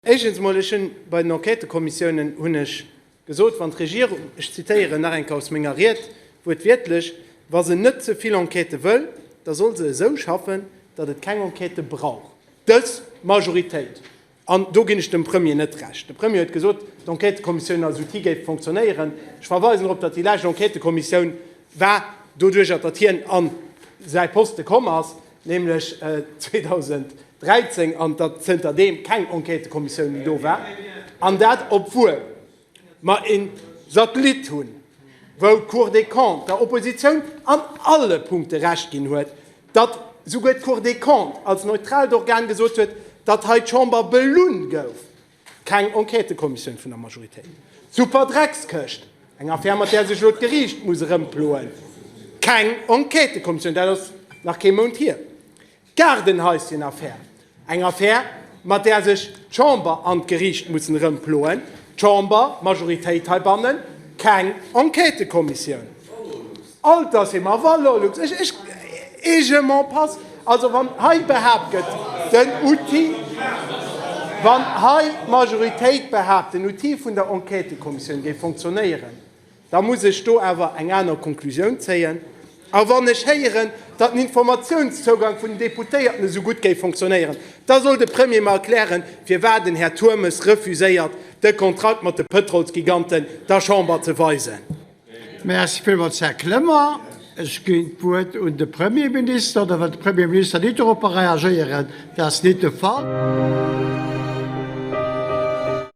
Éischens emol, ech hunn bei den Enquêtëkommissiounen, hunn ech gesot, wann d'Regierung, ech zitieren nach eng Kéier aus menger Ried wuertwiertlech, wa se net ze vill Enquêtë wëll, da soll se esou schaffen, datt et keng Enquêtë brauch, dës Majoritéit. An do ginn ech dem Premier net Recht. De Premier huet gesot, d'Enquêtëkommissioun als Outil géif fonctionnéieren. Ech verweisen drop, datt déi lescht Enquêtëkommissioun war, doduerch datt hien a säi Poste komm ass, nämlech 2000, 13 an datt zënter deem keng Enquêtëkommissioun méi do war, an dat obwuel mer ee Satellit hunn, wou d'Cour des Comptes der Oppositioun an alle Punkte Recht ginn huet, datt souguer d'Cour des Comptes als neutraalt Organ gesot huet, datt hei d'Chamber belunn gouf, keng Enquêtëkommissioun vun der Majoritéit. D'Superdreckskëscht, eng Affär mat där sech elo d'Geriicht muss erëmploen, keng Enquêtëkommissioun, dat ass nach kee Mount hier. D'Gaardenhäuschen-Affär, eng Affär, mat där sech d'Chamber an d'Geriicht mussen erëmploen, d'Chamber, d'Majoritéit heibannen, keng Enquêtëkommissioun. Altersheem a Valorlux, ech, ech, et je m'en passe. Also wann hei behaapt gëtt, den Outil, wann hei d'Majoritéit behaapt, den Outil vun der Enquêtëkommissioun géif fonctionnéieren, Da muss ech do awer eng aner Konklusioun zéien. A wann ech héieren, datt den Informatiounszougang vun den Deputéierten esou gutt géif fonctionnéieren, da soll de Premier mer erklären, firwat den Här Turmes refuséiert, de Kontrakt mat de Pëtrolsgiganten der Chamber ze weisen. Merci villmools, Här Clement. Ech ginn d'Wuert un de Premierminister, oder wëll de Premierminister net dorop reagéieren? Dat ass net de Fall.